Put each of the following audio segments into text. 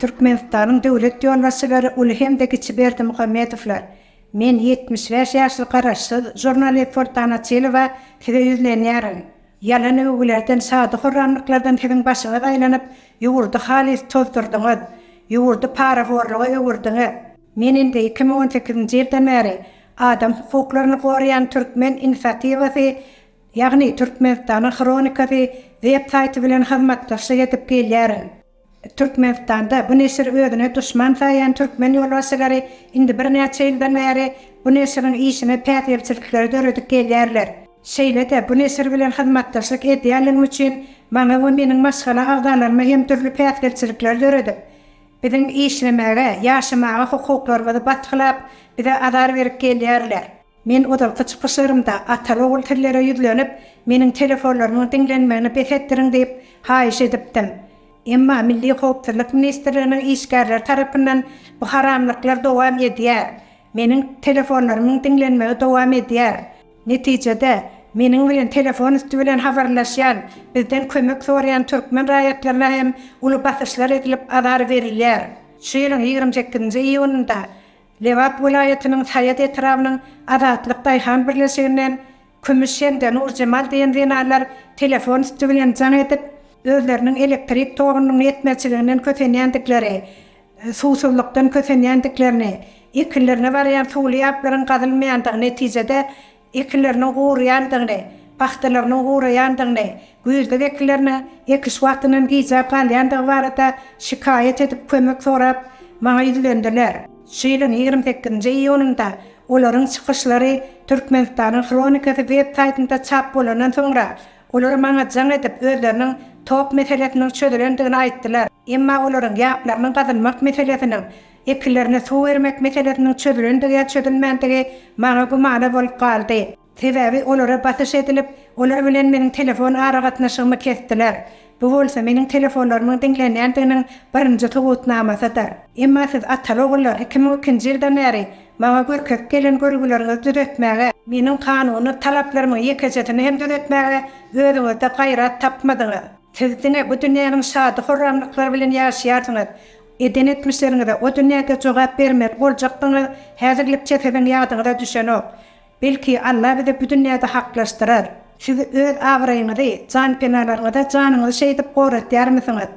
Türkmenistanyň döwlet ýolbaşçylary uly hem-de kiçi Berdimuhamedowlar, Men ýetmiş bäş ýaşly garaşsyz žurnalist Soltan Açylowa size ýüzlenýärin. Ýalan öwgülerden, şady-horramlyklardan siziň başyňyz aýlanyp, ýurdy halys tozdurdyňyz. Ýurdy parahorluga öwürdiňiz. Men indi iki müň on sekizinji ýyldan bäri adam hukuklaryny goraýan Türkmen inisiatiwasy, ýagny Türkmenistanyň hronikasy web saýty bilen hyzmatdaşlyk edip gelýärin. Türkmenistanda bu neşiri özüne duşman saýýan türkmen ýolbaşçylary indi birnäçe ýyldan bäri bu neşiriň işine päsgelçilikleri döredip gelýärler. Şeýle-de bu neşir bilen hyzmatdaşlyk edýänligim üçin maňa we meniň maşgala agzalaryma hem dürli päsgelçilikleri döredip, Biziň işlemäge, ýaşamaga hukuklarymyzy basgylap, bize azar berip gelýärler. Men ozalky çykyşlarymda ata-ogul sizlere ýüzlenip, meniň telefonlarymyň diňlenmegini bes etdiriň diýip, haýyş edipdim. Emma Milli howpsuzlyk ministrliginiň işgärleri tarapyndan bu haramlyklar dowam edýär. Meniň telefonlarymyň diňlenmegi dowam edýär. Netijede, meniň bilen telefon üsti bilen habarlaşýan, bizden kömek soraýan türkmen raýatlaryna hem uly basyşlar edilip, azar berilýär. Şu ýylyň ýigrimi sekizinji iýunynda Lebap welaýatynyň Saýat etrabynyň Azatlyk daýhan birleşiginden Kümüş hem-de Nurjemal diýen zenanlar telefon üsti bilen jaň edip, özleriniň elektrik togunyň ýetmezçiliginden kösenýändikleri, suwsuzlykdan kösenýändiklerini, ekinlerine barýan suwly ýaplaryň gazylmaýandygy, netijede, ekinleriniň guraýandygyny, pagtalarynyň guraýandygyny, Güýzlük ekinlerine ekiş wagtynyň gijäp galýandygy barada şikaýat edip kömek sorap, maňa ýüzlendiler. Şu ýylyň ýigrimi sekizinji iýunynda olaryň çykyşlary Türkmenistanyň hronikasy web saýtynda çap bolandan soňra, olar maňa jaň edip, özleriniň tok meselesiniň çözülendigini aýtdylar. Emma olaryň ýaplarynyň gazylmak meselesiniň, ekinlerine suw bermek meselesiniň çözülendigi ýa çözülmändigi maňa gümana bolup galdy. Sebäbi olara basyş edilip, olar bilen meniň telefon aragatnaşygymy kesdiler. Bu bolsa meniň telefonlarymyň diňlenýändiginiň birinji subutnamasydyr. Emma siz ataly-ogullar iki müň ikinji ýyldan bäri maňa görkezip gelen görgüleriňizi düzetmäge, meniň kanuny talaplarymyň ýekejesini hem düzetmäge özüňizde gaýrat tapmadyňyz. Siz diňe bu dünýäniň şady-horramlyklary bilen ýaşaýarsyňyz. Eden etmişleriňize o dünýäde jogap bermeli boljakdygyňyz häzirlikçe siziň ýadyňyza düşenok. Belki Alla bizi bu dünýäde haklaşdyrar. Siz öz abraýyňyzy, janpenalaryňyza janyňyzy şeýdip goratýarmysyňyz?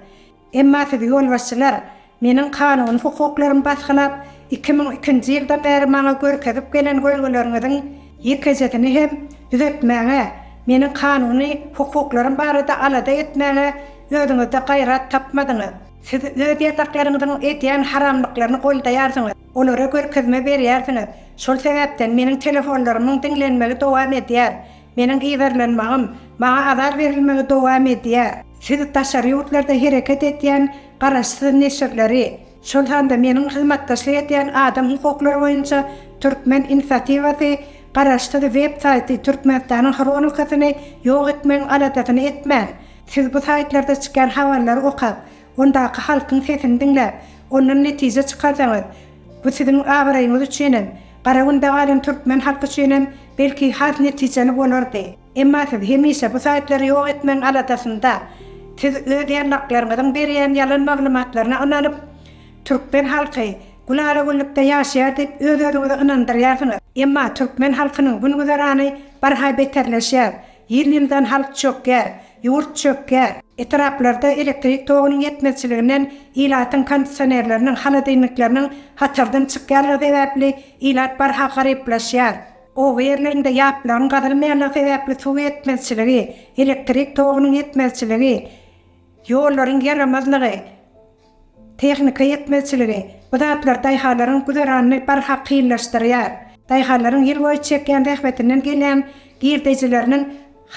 Emma sizi ýolbaşçylar meniň kanuny hukuklarymy basgylap, iki müň ikinji ýyldan bäri maňa görkezip gelen görgüleriňiziň ýekejesini hem düzetmäge, meniň kanuny hukuklarym barada alada etmäge özüňizde gaýrat tapmadyňyz. Siz öz ýataklaryňyzyň edýän haramlyklaryny goldaýarsyňyz. Olara görkezme berýärsiňiz. Şol sebäpden meniň telefonlarymyň diňlenmegi dowam edýär. Meniň yzarlanmagym, maňa azar berilmegi dowam edýär. Siz daşary ýurtlarda hereket edýän garaşsyz neşirleri, şol sanda meniň hyzmatdaşlyk edýän adam hukuklary boýunça Türkmen inisiatiwasy garaşsyz web saýty Türkmenistanyň hronikasyny ýok etmegiň aladasyny etmäň. Siz bu saýtlarda çykýan habarlary okap, Ondaky halkyň sesini diňläp, ondan netije çykarsaňyz, bu siziň abraýyňyz üçin hem, Garagünde galan türkmen halky üçin hem belki has netijeli bolardy. Emma siz hemişe bu saýtlary ýok etmegiň aladasynda. Siz öz ýallaklaryňyzyň berýän ýalan maglumatlaryna ynanyp, türkmen halky gülala-güllükde ýaşaýar diýip öz-özüňizi ynandyrýarsyňyz. Emma türkmen halkynyň gün-güzerany barha beterleşýär. Ýyl-ýyldan halk çökýär, ýurt çökýär. Etraplarda elektrik togunyň ýetmezçiliginden ilatyň kondisionerleriniň, holodilnikleriniň hatardan çykýanlygy sebäpli ilat barha garyplaşýar. Oba ýerlerinde ýaplygyň gazylmaýanlygy sebäpli suw ýetmezçiligi, elektrik togunyň ýetmezçiligi, ýollaryň ýaramazlygy, Tehnika ýetmezçiligi, bu zatlar daýhanlaryň güzeranyny barha kynlaşdyrýar. Daýhanlaryň ýyl boýy çekýän zähmetinden gelýän girdejileriniň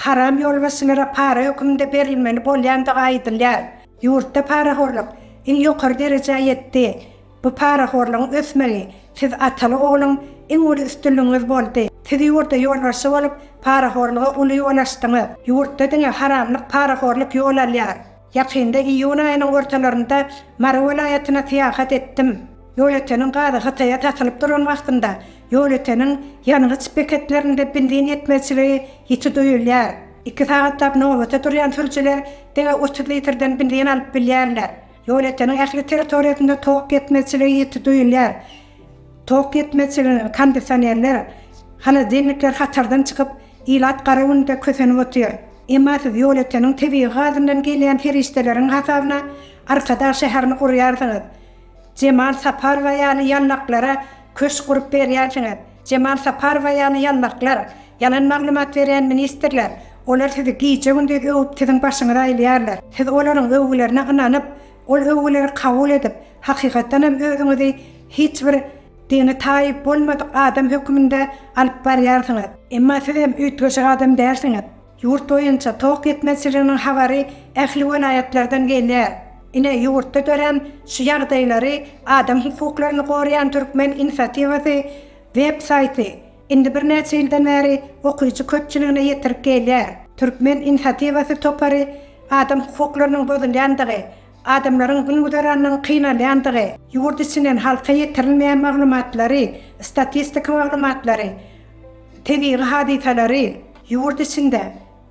haram ýolbaşçylara para höküminde berilmeli bolýandygy aýdylýar. Ýurtda parahorluk iň ýokary derejä ýetdi. Bu parahorlugyň ösmegi siz ataly-ogluň iň uly üstünligiňiz boldy. Siz ýurda ýolbaşçy bolup, parahorluga uly ýol açdyňyz. Ýurtda diňe haramlyk, parahorluk ýol alýar. Ýakynda iýun aýynyň ortalarynda Mary welaýatyna syýahat etdim. Ýolöteniň gazy Hytaýa satylyp duran wagtynda ýolöteniň ýangyç beketlerinde benzin ýetmezçiligi ýiti duýulýar. Iki sagatlap nobata durýan sürüjiler diňe otuz litrden benzin alyp bilýärler. Ýolöteniň ähli territoriýasynda tok ýetmezçiligi ýiti duýulýar. Tok ýetmezçiliginiň, kondisionerler, holodilnikler hatardan çykyp, ilat gara günde kösenip otyr. Emma siz ýolöteniň tebigy gazyndan gelýän serişdeleriň hasabyna Arkadag şäherini gurýarsyňyz. Jemal Saparowa ýaly ýallaklara köşk gurup berýärsiňiz. Jemal Saparowa ýaly ýallaklar, ýalan maglumat berýän ministrler, olar sizi gije-gündiz öwüp siziň başyňyzy aýlaýarlar. Siz olaryň öwgülerine ynanyp, Ol öwgüleri kabul edip, hakykatdan hem özüňizi hiç bir dini taýyp bolmadyk adam höküminde alyp barýarsyňyz. Emma siz hem üýtgeşik adam dälsiňiz. Ýurt boýunça tok ýetmezçiliginiň habary ähli welaýatlardan gelýär. Ine, ýurtda dörän şu ýagdaýlary Adam hukuklaryny goraýan türkmen inisiatiwasy web saýty, Indi birnäçe ýyldan bäri okyjy köpçüligine ýetirip gelýär. Türkmen inisiatiwasy topary adam hukuklarynyň bozulýandygy, adamlaryň gün-güzeranynyň kynalýandygy, ýurt içinden halka ýetirilmeýän maglumatlary, statistika maglumatlary, tebigy hadysalary, ýurt içinde,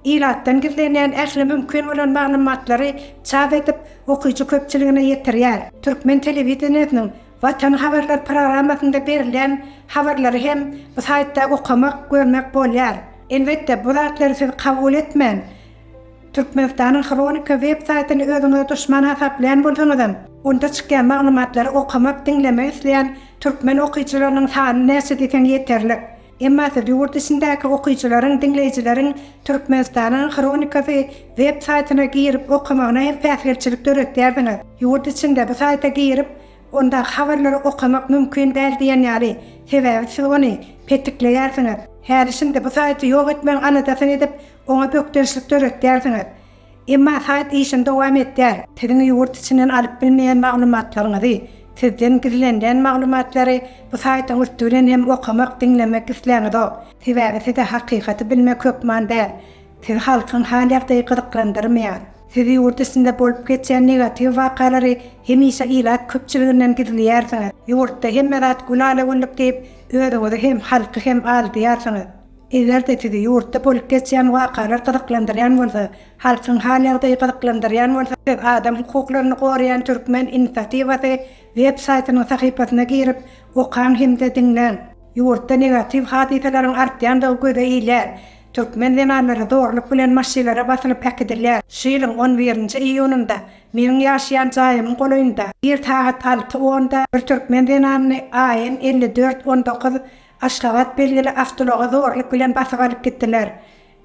Ilatdan gizlenýän ähli mümkin bolan maglumatlary çap edip, okyjy köpçüligine ýetirýär. Türkmen telewideniýesiniň Watan habarlar programmasynda berilýän habarlary hem bu saýtda okamak, görmek bolýar. Elbetde, bu zatlary siz kabul etmän, Türkmenistanyň Hronika web saýtyny özüňize duşman hasaplaýan bolsaňyzam, onda çykýan maglumatlary okamak, diňlemek isleýän türkmen okyjylarynyň sany näçe diýseň ýeterlik. Emma siz ýurt içindäki okyjylaryň, diňleýjileriň Türkmenistanyň hronikasy web saýtyna girip okamagyna hem päsgelçilik döretýärsiňiz. Ýurt içinde bu saýta girip, ondaky habarlary okamak mümkin däl diýen ýaly, sebäbi siz ony petikleýärsiňiz. Häli-şindi bu saýty ýok etmegiň aladasyny edip, oňa bökdençlik döretýärsiňiz. Emma saýt işini dowam etdýär. Siziň ýurt içinden alyp bilmeýän maglumatlaryňyzy, sizden gizlenilýän maglumatlary bu saýtyň üsti bilen hem okamak, diňlemek isläňizok. Sebäbi size hakykaty bilmek hökman däl. Sizi halkyň hal-ýagdaýy gyzyklandyrmaýar. Siz ýurt içinde bolup geçýän negatiw wakalary hemişe ilat köpçüliginden gizleýärsiňiz. Ýurtda hemme zat gülala-güllük diýip, özüňizi hem, halky hem aldýarsyňyz. Eger-de sizi ýurtda bolup geçýän wakalar gyzyklandyrýan bolsa, halkyň hal-ýagdaýy gyzyklandyrýan bolsa, siz adam hukuklaryny goraýan türkmen inisiatiwasy web saýtynyň sahypasyna girip, okaň hem-de diňläň. Ýurtda negatiw hadysalaryň artýandygy göze ilýär. Türkmen zenanlary zorluk bilen maşylara basylyp äkidilýär. Şu ýylyň on birinji iýunynda meniň ýaşaýan jaýymyň golaýynda, ir sagat alty onda bir türkmen zenanyny AN elli dört on dokuz Aşgabat, Belgili awtoulagy zorluk bilen basyp alyp gitdiler.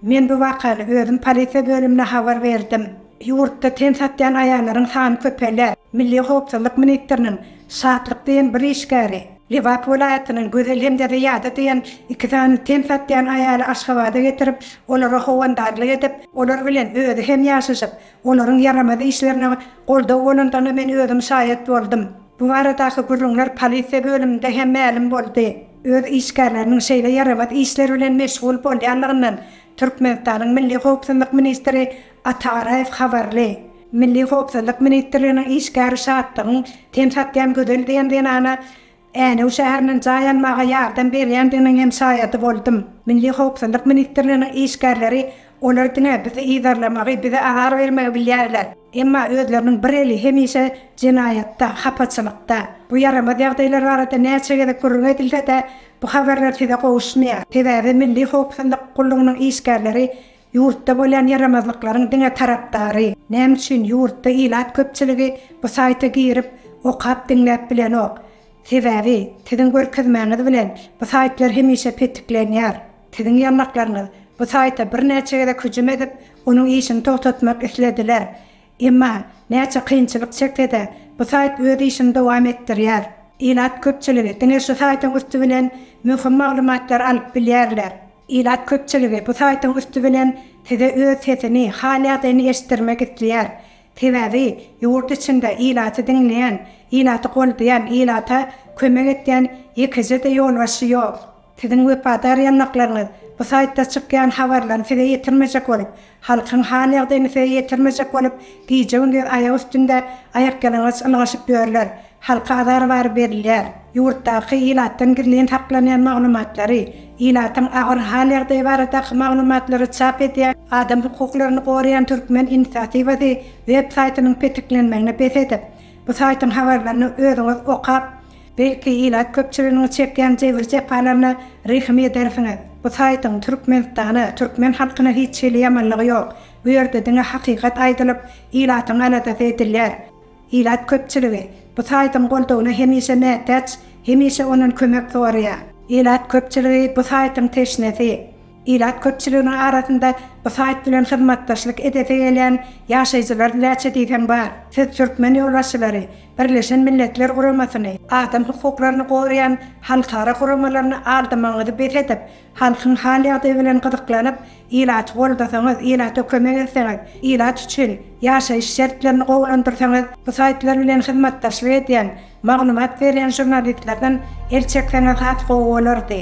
Men bu wakany özüm polisiýa bölümine habar berdim. Ýurtda ten satýan aýallaryň sany köpelýär. Milli howpsuzlyk ministriniň Şatlyk diýen bir işgäri, Lebap welaýatynyň Gözel hem-de Zyýada diýen iki sany ten satýan aýaly Aşgabada getirip, olara howandarlyk edip, olar bilen özi hem ýaşaşyp, olaryň ýaramaz işlerine goldaw bolandygyna men özüm şaýat boldum. Bu baradaky gürrüňler polisiýa bölüminde hem mälim boldy. Öz işgärleriniň şeýle ýaramaz işler bilen meşgul bolýanlygyndan Türkmenistanyň Milli howpsuzlyk ministri Ata Garaýew habarly. Milli howpsuzlyk ministrliginiň işgäri Şatlygyň ten satýan Gözel diýen zenana Änew şäherinden jaý almaga ýardam berýändiginiň hem şaýady boldum. Milli howpsuzlyk ministrliginiň işgärleri Olar diňe bizi yzarlamagy, bize azar bermegi bilýärler. Emma özleriniň bir eli hemişe jenaýatda, hapaçylykda. Bu ýaramaz ýagdaýlar barada näçe gezek gürrüň edilse-de, bu habarlar size gowuşmaýar. Sebäbi Milli howpsuzlyk gullugynyň işgärleri ýurtda bolýan ýaramazlyklaryň diňe tarapdary. Näme üçin ýurtda ilat köpçüligi bu saýta girip, okap, diňläp bilenok? Sebäbi, siziň görkezmäňiz bilen, bu saýtlar hemişe petiklenýär. Siziň ýanlaklaryňyz bu saýta birnäçe gezek hüjüm edip, onuň işini togtatmak islediler. Emma, näçe kynçylyk çekse-de, bu saýt öz işini dowam etdirýär. Ilat köpçüligi diňe şu saýtyň üsti bilen möhüm maglumatlary alyp bilýärler. Ilat köpçüligi bu saýtyň üsti bilen size öz sesini, hal-ýagdaýyny eşitdirmek isleýär. Sebäbi, ýurt içinde ilaty diňleýän, ilaty goldaýan, ilata kömek edýän ýekeje-de ýolbaşçy ýok. Siziň wepadar ýanlaklaryňyz bu saýtda çykýan habarlaryny size ýetirmejek bolup, halkyň hal-ýagdaýyny size ýetirmejek bolup, gije-gündiz aýak üstünde aýakýalaňaç ylgaşyp ýörler. Halka azar-wary berilýär. Ýurtdaky ilatdan gizlin saklanýan maglumatlary, ilatyň agyr hal-ýagdaýy baradaky maglumatlary çap edýän, Adam hukuklaryny goraýan Türkmen inisiatiwasy web saýtynyň petiklenmegini bes edip, bu saýtyň habarlaryny özüňiz okap, Belki ilat köpçüliginiň çekýän jebir-jepalaryna rehim edersiňiz. Bu saýtyň Türkmenistana, türkmen halkyna hiç hili ýamanlygy ýok. Bu ýerde diňe hakykat aýdylyp, ilatyň aladasy edilýär. Ilat köpçüligi bu saýtyň goldawyna hemişe mätäç, hemişe ondan kömek soraýar. Ilat köpçüligi bu saýtyň teşnesi. Ilat köpçüliginiň arasynda bu saýt bilen hyzmatdaşlyk edesi gelýän ýaşaýjylar näçe diýseň bar. Siz türkmen ýolbaşçylary, Birleşen Milletler Guramasyny, adam hukuklaryny goraýan halkara guramalaryny aldamagyňyzy bes edip, halkyň hal-ýagdaýy bilen gyzyklanyp, ilaty goldasaňyz, ilata kömek etseňiz, ilat üçin ýaşaýyş şertlerini gowulandyrsaňyz, bu saýtlar bilen hyzmatdaşlyk edýän Maglumat berýän žurnalistlerden el çekseňiz has gowy bolardy.